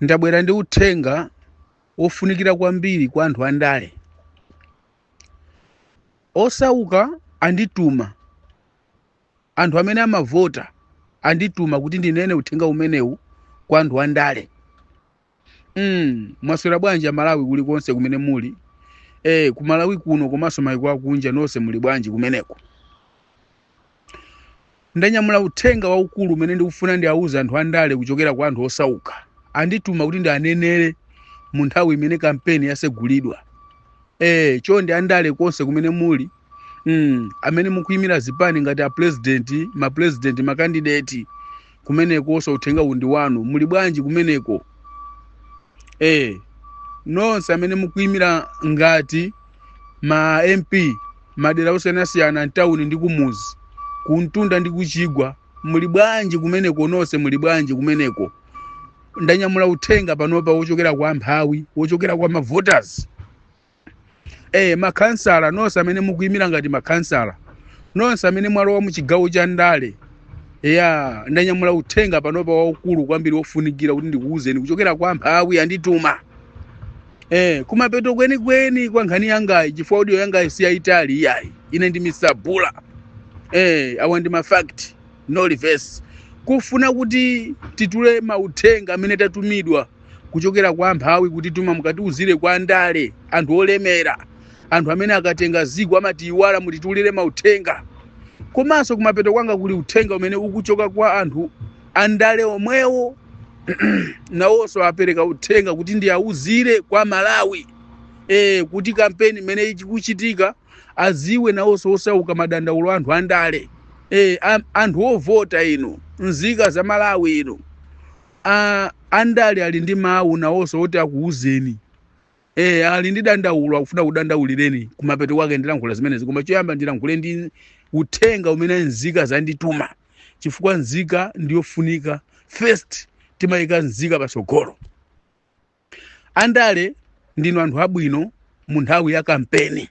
ndabwera ndi uthenga wofunikira kwambiri kwa anthu andale osauka andituma anthu amene amavota andituma kuti ndinene uthenga umenewu kwa anthu andale mm, mwaswera bwanji amalawi kulikonse kumene muli eh, kumalawi kuno komanso maiko akunja nonse muli bwanji kumeneko Ndanyamula uthenga waukulu umene ndikufuna ndiauze anthu andale kuchokera kwa anthu osauka. Andituma kuti ndianenere mu nthawi imene kampeni yasegulidwa. Eh, chonde andale konse kumene muli mm, amene mukuyimira zipani ngati apulezidenti, mapulezidenti, makandideti kumeneko so uthenga uwu ndi wanu muli bwanji kumeneko eh nonse amene mukuimira ngati ma mp madera osiyanasiyana mtawuni ndi kumuzi kumtunda ndi kuchigwa muli bwanji kumeneko nonse muli bwanji kumeneko ndanyamula uthenga panopa wochokera kwa amphawi wochokera kwa mavoters eh makhansala nonse amene mukuyimira ngati makhansala nonse amene mwalowa mu chigawo cha ndale ya ndanyamula uthenga panopa waukulu kwambiri wofunikira kuti ndikuwuzeni kuchokera kwa amphawi andituma eh kumapeto kwenikweni kwa nkhani yangayi chifukwa audio yangayi si yayitali iyayi ine ndi mr bula eh awa ndi mafact no reverse kufuna kuti titule mauthenga amene tatumidwa kuchokera kwa amphawi kutituma mukatiuzire kwa andale anthu olemera anthu amene akatenga ziko amatiyiwala mutitulire mauthenga komanso kumapeto kwanga kuli uthenga umene ukuchoka kwa anthu andale omwewo nawonso apereka uthenga kuti ndiawuzire kwa amalawi e, kuti kampeni imene ikuchitika aziwe nawonso osauka madandaulo a anthu andale e, anthu ovota inu nzika za malawi inu a andale ali ndi mawu nawonso oti akuwuzeni eh ali ndi dandaulo akufuna akudandaulireni kumapeto kwake ndilankhula zimenezi koma choyamba ndilankhule ndi uthenga umene nzika zandituma chifukwa nzika ndiyofunika first timayika nzika patsogolo andale ndinu anthu abwino mu nthawi ya kampeni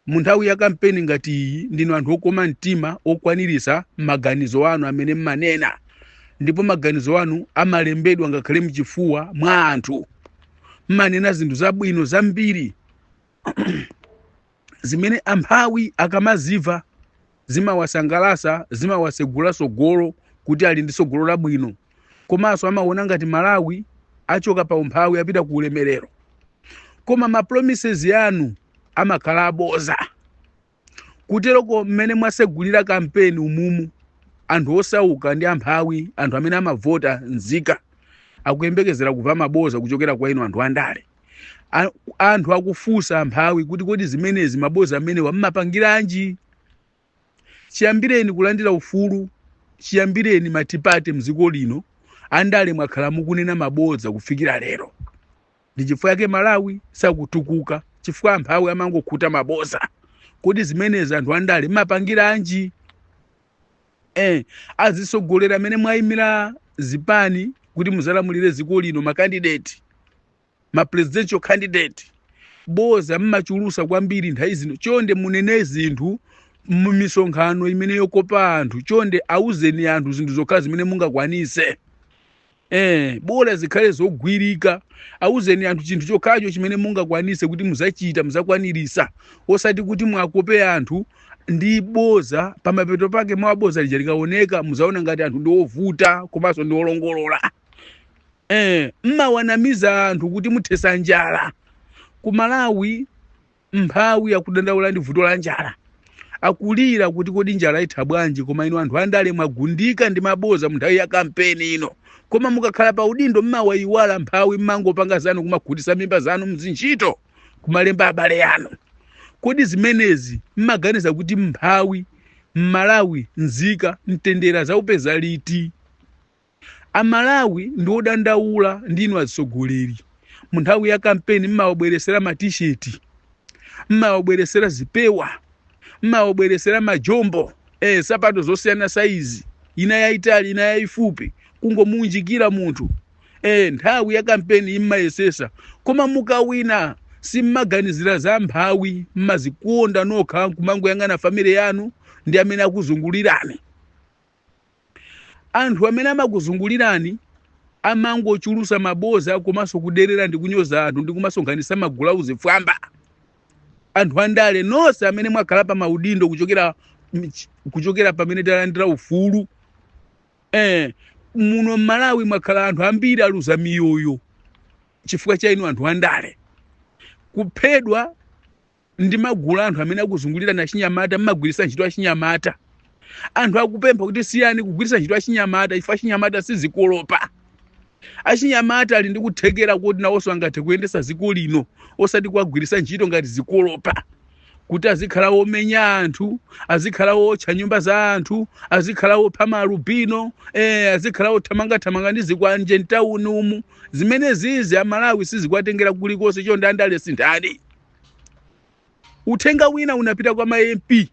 Munthawi ya kampeni ngati iyi, ndinu anthu okoma mtima, okwaniritsa maganizo anu amene mmanena ndipo maganizo anu amalembedwa ngakhale mchifuwa mwa anthu. Mmanena zinthu zabwino zambiri zimene amphawi akamaziva zimawasangalasa, zimawasegula sogolo kuti ali ndi sogolo labwino. komanso amaona ngati malawi achoka pa umphawi apita ku ulemerero koma ma promises anu amakhala aboza kuteroko mmene mwasegulira kampeni umumu anthu osauka ndi amphawi anthu amene amavota nzika akuyembekezera kumva maboza kuchokera kwa inu anthu andale A- anthu akufunsa amphawi kuti kodi zimenezi maboza amenewa mmapangiranji chiyambireni kulandira ufulu chiyambireni matipate mdziko lino andale mwakhala mukunena maboza kufikira lero ndi chifukwa yake malawi sakutukuka chifukwa amphawi amangokhuta maboza kodi zimenezi anthu andale mmapangiranji eh, azisogolera amene mwayimira zipani kuti muzalamulire dziko lino makandideti ma presidential candidate boza mmachulusa kwambiri nthawi zino chonde munene zinthu mumisonkhano imeneyi yokopa anthu chonde auzeni anthu zinthu zokhazo zimene mungakwanise eh bola zikhale zogwirika auzeni anthu chinthu chokhacho chimene mungakwanise kuti muzachita muzakwanirisa osati kuti mwakope anthu ndi boza pamapeto pake boza lija likaoneka muzaona ngati anthu ndi ovuta komanso ndi olongolola Eh, mmawanamiza anthu kuti muthesa njala ku malawi mphawi akudandaula ndi vuto la njala akulira kuti kodi njala itha bwanji koma inu anthu andale mwagundika ndi maboza mu nthawi ya kampeni ino koma mukakhala pa udindo mmawayiwala mphawi mmangopanga zanu kumakhutisa mimba zanu mzintchito kumalemba abale anu kodi zimenezi mmaganiza kuti mphawi mmalawi nzika mtendere azaupeza liti Amalawi ndi odandaula ndi inu atsogoleri. Munthawi ya kampeni mmawabweretsera ma t-shirt, mmawabweretsera zipewa, mmawabweretsera majombo, eh, nsapato zosiyana saizi, ina yaitali ina yaifupi, kungomuunjikira munthu. Eh, nthawi ya kampeni mmayesesa. Koma mukawina simmaganizira za mphawi, mmazikonda nokha nkumangoyang'ana family yanu ndi amene akuzungulirani. Anthu amene amakuzungulirani amangochulusa maboza komanso kuderera ndi kunyoza anthu ndi kumasonkhanisa magulu azifwamba. Anthu andale nonse amene mwakhala pa maudindo kuchokera mch- kuchokera pamene talandira ufulu eh, muno m'Malawi mwakhala anthu ambiri aluza miyoyo chifukwa cha inu anthu andale kuphedwa ndi magulu a anthu amene akuzungulirani achinyamata mmagwiritsa ntchito achinyamata anthu akupempha kuti siyani kugwiritsa ntchito achinyamata chifukwa achinyamata sizikolopa achinyamata ali ndi kuthekera kuti nawonso angathe kuyendetsa dziko lino osati kuwagwiritsa ntchito ngati zikolopa kuti azikhala womenya anthu azikhala wotcha nyumba za anthu azikhala wopha maalubino eh, azikhala wothamangathamanga ndi zikwanje mtawuni umu zimene zizi amalawi sizikuwatengera kulikonse chonde andale sinthani uthenga wina unapita kwa ma mp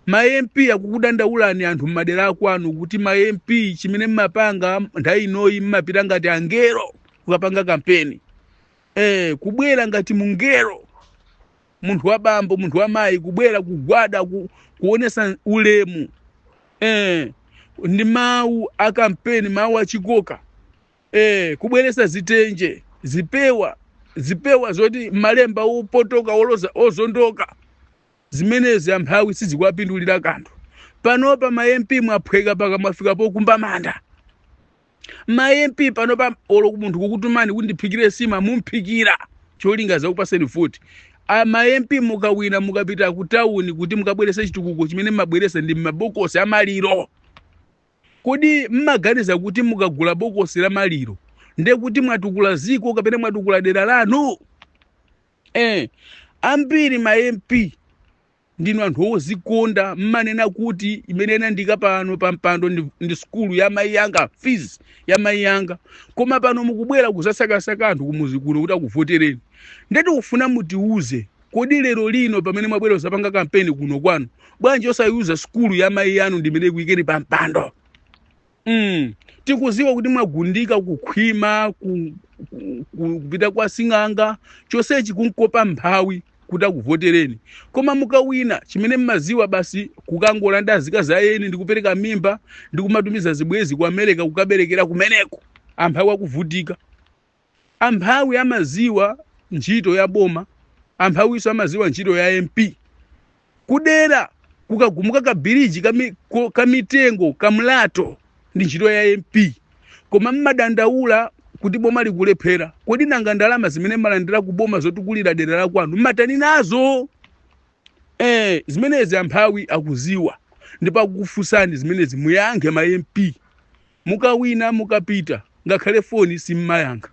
ma mp akukudandaulani anthu m'madera akwanu kuti ma mp chimene mmapanga nthawi inoyi mmapita ngati angelo kukapanga kampeni eh, kubwera ngati mungelo munthu wa bambo munthu wa mayi kubwera kugwada ku, kuonesa ulemu eh, ndi mawu a kampeni mawu achikoka eh, kubweresa zitenje zipewa zipewa zoti malemba opotoka olo ozondoka zimenezi amphawi sizikuwapindulira kanthu panopa ma mp mwaphweka paka mwafika pokumba manda ma mp panopa olo munthu akukutumani kuti ndiphikire sima mumphikira cholinga azakupaseni voti A- ma mp mukawina mukapita ku tawuni kuti mukabwerese chitukuko chimene mmabweresa ndi mabokosi amaliro Kodi m'maganiza kuti mukagula bokosi la maliro ndiye kuti mwatukula ziko kapena mwatukula dera lanu? Eh, ambiri ma MP ndinu anthu ozikonda mmanena kuti imene inandiika pano pa mpando ndi, ndi sukulu ya mayi anga fees ya mayi anga koma pano mukubwera kuzasakasaka anthu kumuzi kuno kuti akuvotereni nde tikufuna mutiuze Kodi lero lino pamene mwabwera kuzapanga kampeni kuno kwanu, bwanji osaiuza sukulu ya mayi anu ndimene ikuyikeni pa mpando? Mm. Tikuziwa kuti mwagundika kukhwima ku- ku- ku- kupita kwa sing'anga chonsechi kumukopa mphawi kuti akuvotereni koma mukawina chimene mmaziwa basi kukagona ndi azikazi a eni ndikupereka mimba ndikumatumiza zibwezi ku america kukaberekera kumeneko amphawi akuvutika Amphawi amaziwa ntchito ya boma, amphawinso amaziwa ntchito ya MP. Kudera kukagumuka ka biliji ka mi- ko- ka mitengo ka mlatho ndi ntchito ya MP. Koma mmadandaula kuti boma likulephera. Kodi nanga ndalama zimene mmalandira ku boma zotukulira dera la kwanu mmatani nazo? Eh, zimenezi amphawi akuziwa ndipo akukufunsani zimenezi muyankhe ma MP mukawina mukapita ngakhale foni simmayankha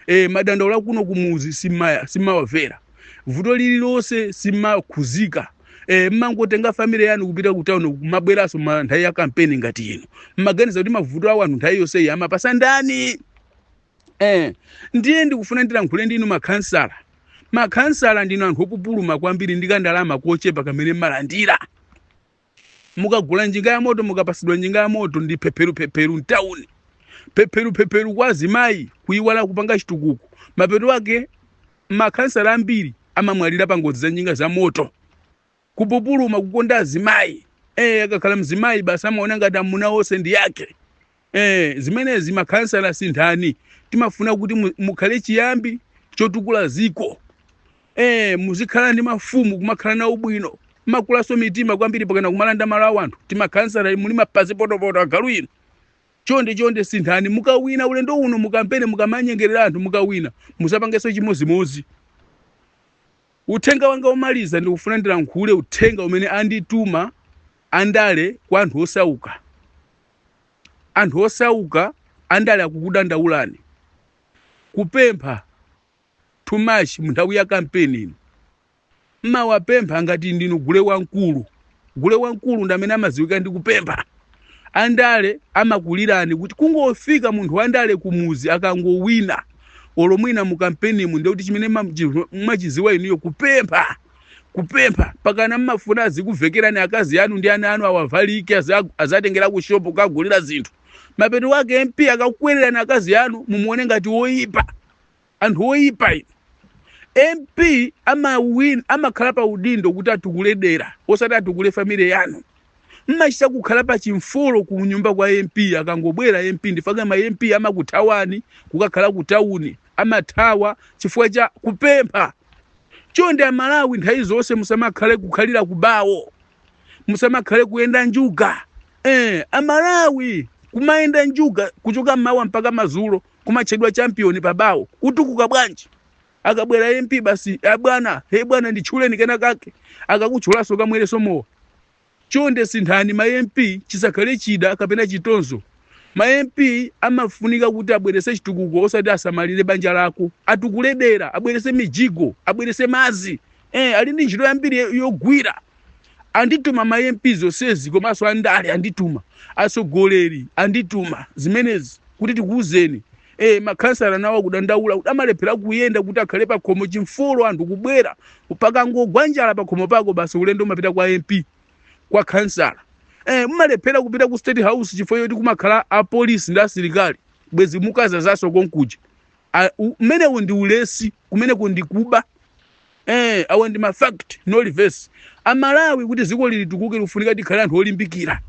eh, madandaulo akuno kumuzi simmaya- simmawavera vuto lililonse simmakhuzika eh, mmangotenga family yanu kupita ku town kumabweranso ma nthawi ya kampeni ngati ino mmaganiza kuti mavuto awo anthu nthawi yonseyi amawapasa ndani Eh, ndiye ndikufuna ndilankhule ndinu makhansala makhansala ndinu anthu opupuluma kwambiri ndi kandalama kochepa kamene mmalandira mukagula njinga ya moto mukapasidwa njinga ya moto ndi phepheruphepheru mtawuni phepheruphepheru kwa azimayi kuyiwala kupanga chitukuko mapeto ake makhansala ambiri amamwalira pa ngozi za njinga za moto kupupuluma kukonda azimayi eh akakhala mzimayi basi amaona ngati amuna onse ndi ake eh zimenezi makhansala sinthani timafuna kuti mu- mukhale chiyambi chotukula ziko eh muzikhala ndi mafumu kumakhala nawo bwino makulaso mitima kwambiri pakana kumalanda malo awo anthu ma khansala muli mapasi potopoto agalu inu chonde chonde sinthani mukawina ulendo uno mukampene mukamanyengerera anthu mukawina musapangenso chimodzimodzi Uthenga wanga womaliza ndikufuna ndilankhule uthenga umene andituma andale kwa anthu osauka. Anthu osauka andale akukudandaulani. Kupempha too much munthawi ya kampeni ino. Mmawapempha ngati ndinu gule wamkulu. Gule wamkulu ndi amene amadziwika ndi kupempha. Andale amakulirani kuti kungofika munthu wandale kumuzi akangowina olo mwina mu kampenimu ndiye kuti chimene ma- chi- mmachidziwa inuyo kupempha kupempha pakana mmafuna azikuvekerani akazi anu ndi ana anu awavalike aza- azatengera ku shopu kukagulira zinthu mapeto wake mp akakwererani akazi anu mumuone ngati woyipa anthu oyipa inu mp amawin amakhala pa udindo kuti atukule dera osati atukule family yanu mmachita kukhala pa chimfolo ku nyumba kwa mp akangobwera mp ndi chifukwa chake ma mp amakuthawani kukakhala ku tawuni amathawa chifukwa cha kupempha chonde amalawi nthawi zonse musamakhale kukhalira ku bawo musamakhale kuyenda njuga eh, amalawi kumayenda njuga kuchoka mmawa mpaka mazulo kumatchedwa champion pabawo utukuka bwanji akabwera mp basi abwana he bwana nditchuleni kenakake akakutchulaso ukamwereso mowa chonde sinthani ma mp chisakhale chida kapena chitonzo ma mp amafunika kuti abwerese chitukuko osati asamalire banja lako atukule dera abwerese mijigo abwerese mazi eh, ali ndi ntchito yambiri yo- yogwira andituma ma mp zonsezi komanso andale andituma atsogoleri andituma zimenezi kuti tikuwuzeni eh, makhansala nawo akudandaula kuti amalephera kuyenda kuti akhale pakhomo chimfolo anthu kubwera pakangogwa njala pakhomo pako basi ulendo mmapita kwa mp kwa khansala eh, mumalephera kupita ku state house chifukwa choti kumakhala apolisi ndi asilikali bwezi mukazazaso konkuja A- u- umenewo ndi ulesi kumeneko ndi kuba eh, awa ndi mafact no reverse amalawi kuti ziko lili litukuke likufunika tikhale anthu olimbikira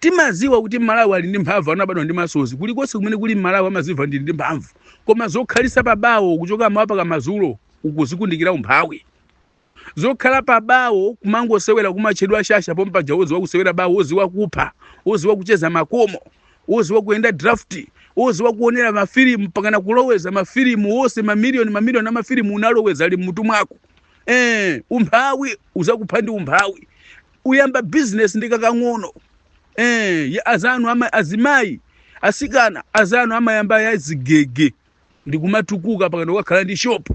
timaziwa kuti mmalawi ali ndi mphamvu anabadwa ndi masozi kulikonse kumene kuli mmalawi amaziva ndili ndi mphamvu koma zokhalisa pabawo kuchoka mmawa mpaka mazulo ukuzikundikira umphawi zokhala pa bawo kumangosewera kumatchedwa ashasha pompaja woziwa kusewera bawo woziwa kupha woziwa kucheza makomo woziwa kuyenda draft woziwa kuonera mafilimu mpakana kuloweza mafilimu onse mamiliyoni mamiliyoni amafilimu unaloweza ali mmutu mwako eh, umphawi uzakupha ndi umphawi uyamba business ndi kakang'ono eh, ya- azanu ama, azimayi asikana azanu amayamba ya zigege ndikumatukuka mpakana kukakhala ndi shop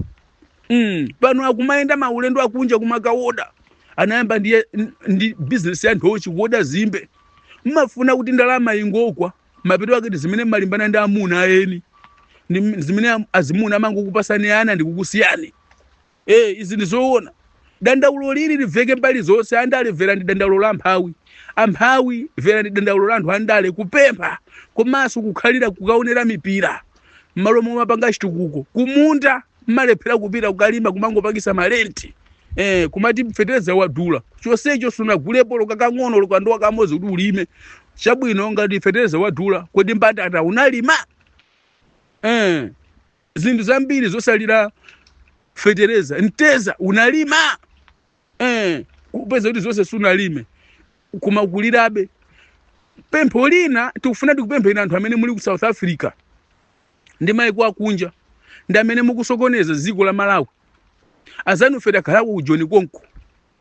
mm. pano akumayenda maulendo akunja kumakawoda anayamba ndi, ndi business ya nthochi kuwoda zimbe mmafuna kuti ndalama ingokwa mapeto ake ndi zimene mmalimbana ndi amuna eni ndi zimene am- azimuna amangokupatsani ana ndikukusiyani ee izi ndi zoona dandaulo lili liveke mbali zonse andale mverani dandaulo la mphawi amphawi mverani dandaulo la anthu andale kupempha komanso kukhalira kukaonera mipira mmalo momakapanga chitukuko kumunda mmalephera kupita kukalima kumangopangisa malenti eh, kumati fetereza wadula chonsecho sunagulepo olo kakang'ono olo kandowa kamodzi kuti ulime chabwino ngati fetereza wadula kodi mbatata unalima eh, zinthu zambiri zosalira fetereza mtedza unalima eh, kupeza kuti zonse sunalime koma ukulirabe pempho lina tikufuna tikupempheni anthu amene muli ku south africa ndi maiko akunja ndi amene mukusokoneza dziko la malawi azanufe takhalako ku joni konko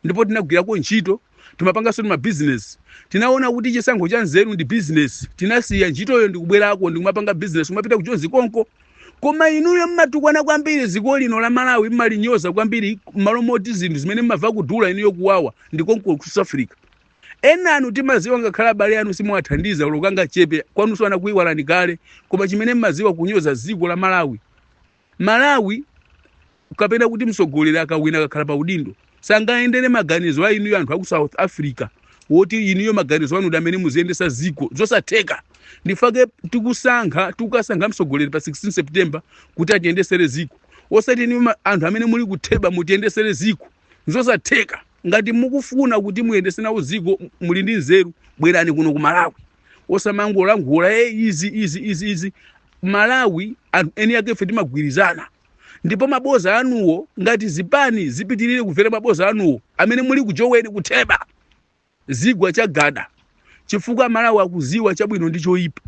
ndipo tinagwirako ntchito timapanganso ndi mabizinesi tinaona kuti chisankho cha nzeru ndi bizinesi tinasiya ntchitoyo ndikubwerako ndikumapanga bizinesi kumapita ku joni konko koma inuyo mmatukwana kwambiri dziko lino la malawi mmalinyoza kwambiri mmalo moti zinthu zimene mmava kudula inuyo kuwawa ndi konko ku south africa enanu timaziwa ngakhale abale anu simuwathandiza olo kangachepe kwanuso anakuiwalani kale koma chimene mmaziwa kunyoza dziko la malawi Malawi kapena kuti mtsogoleri akawina akakhala pa udindo sangayendere maganizo a inuyo anthu aku south africa woti inuyo maganizo anu nda amene muziyendesa ziko zosatheka ndifake tikusankha tikukasankha mtsogoleri pa 16 september kuti atiyendesere ziko osati inuyo ma- anthu amene muli ku theba mutiyendesere ziko zosatheka ngati mukufuna kuti muyendese nawo ziko muli ndi nzeru bwerani kuno ku malawi osamangolankhula e izi izi izi izi malawi anthu eni ake ife timagwirizana ndipo mabodza anuwo ngati zipani zipitirire kumvera mabodza anuwo amene mulikujoweni kutheba zidzagwa chagada chifukwa amalawi akudziwa chabwino ndi choyipa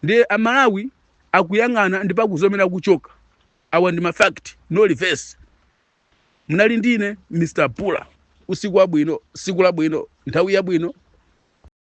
ndiye amalawi akuyang'ana ndipo akuvomera kuchoka awa ndi mafact no reverse munali ndine mr pula usiku wabwino tsiku labwino nthawi yabwino